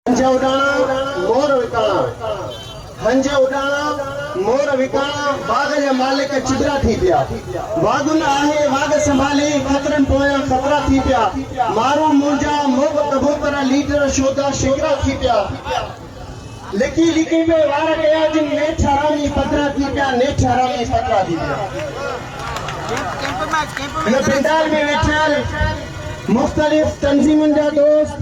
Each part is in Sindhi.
هنج اڏاڻا مور وڪاڻا، هنج اڏاڻا مور وڪاڻا، باغ جا مالڪ چٻرا ٿي پيا، واڳن آهي واڳ سنڀالي، خطرن پويان خطرا ٿي پيا، مارون مونجا، موڳ ڪبوتر، ليڊر شودا شڪرا ٿي پيا، لڪي لڪي پئي وار ڪيا جن، نيٺ حرامي پڌرا ٿي پيا، نيٺ حرامي پڌرا ٿي پيا. هن پينڊال ۾ ويٺل مختلف تنظيمن جا دوست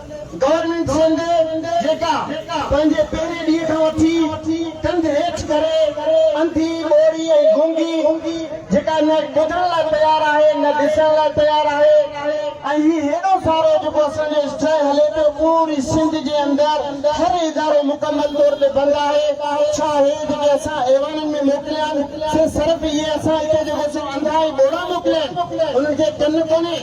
گورنمينٽ سنڌ جيڪا پنهنجي پهرين ڏينهن کان وٺي ڪنڌ هيٺ ڪري انڌي، ٻوڙي ۽ گونگي جيڪا نه ٻڌڻ لاء تيار آهي نه ڏسڻ لاء تيار آهي ۽ هي هيڏو سارو جيڪو اسان جو اسٽرائيڪ هلي پيو پوري سنڌ جي اندر هر ادارو مڪمل طور تي بند آهي ڇا هي جيڪي اسان ايوانن ۾ موڪليا آهن سي صرف اهي اسان هتي جيڪو سو انڌا ۽ ٻوڙا موڪليا آهن انهن کي ڪن ڪونهي.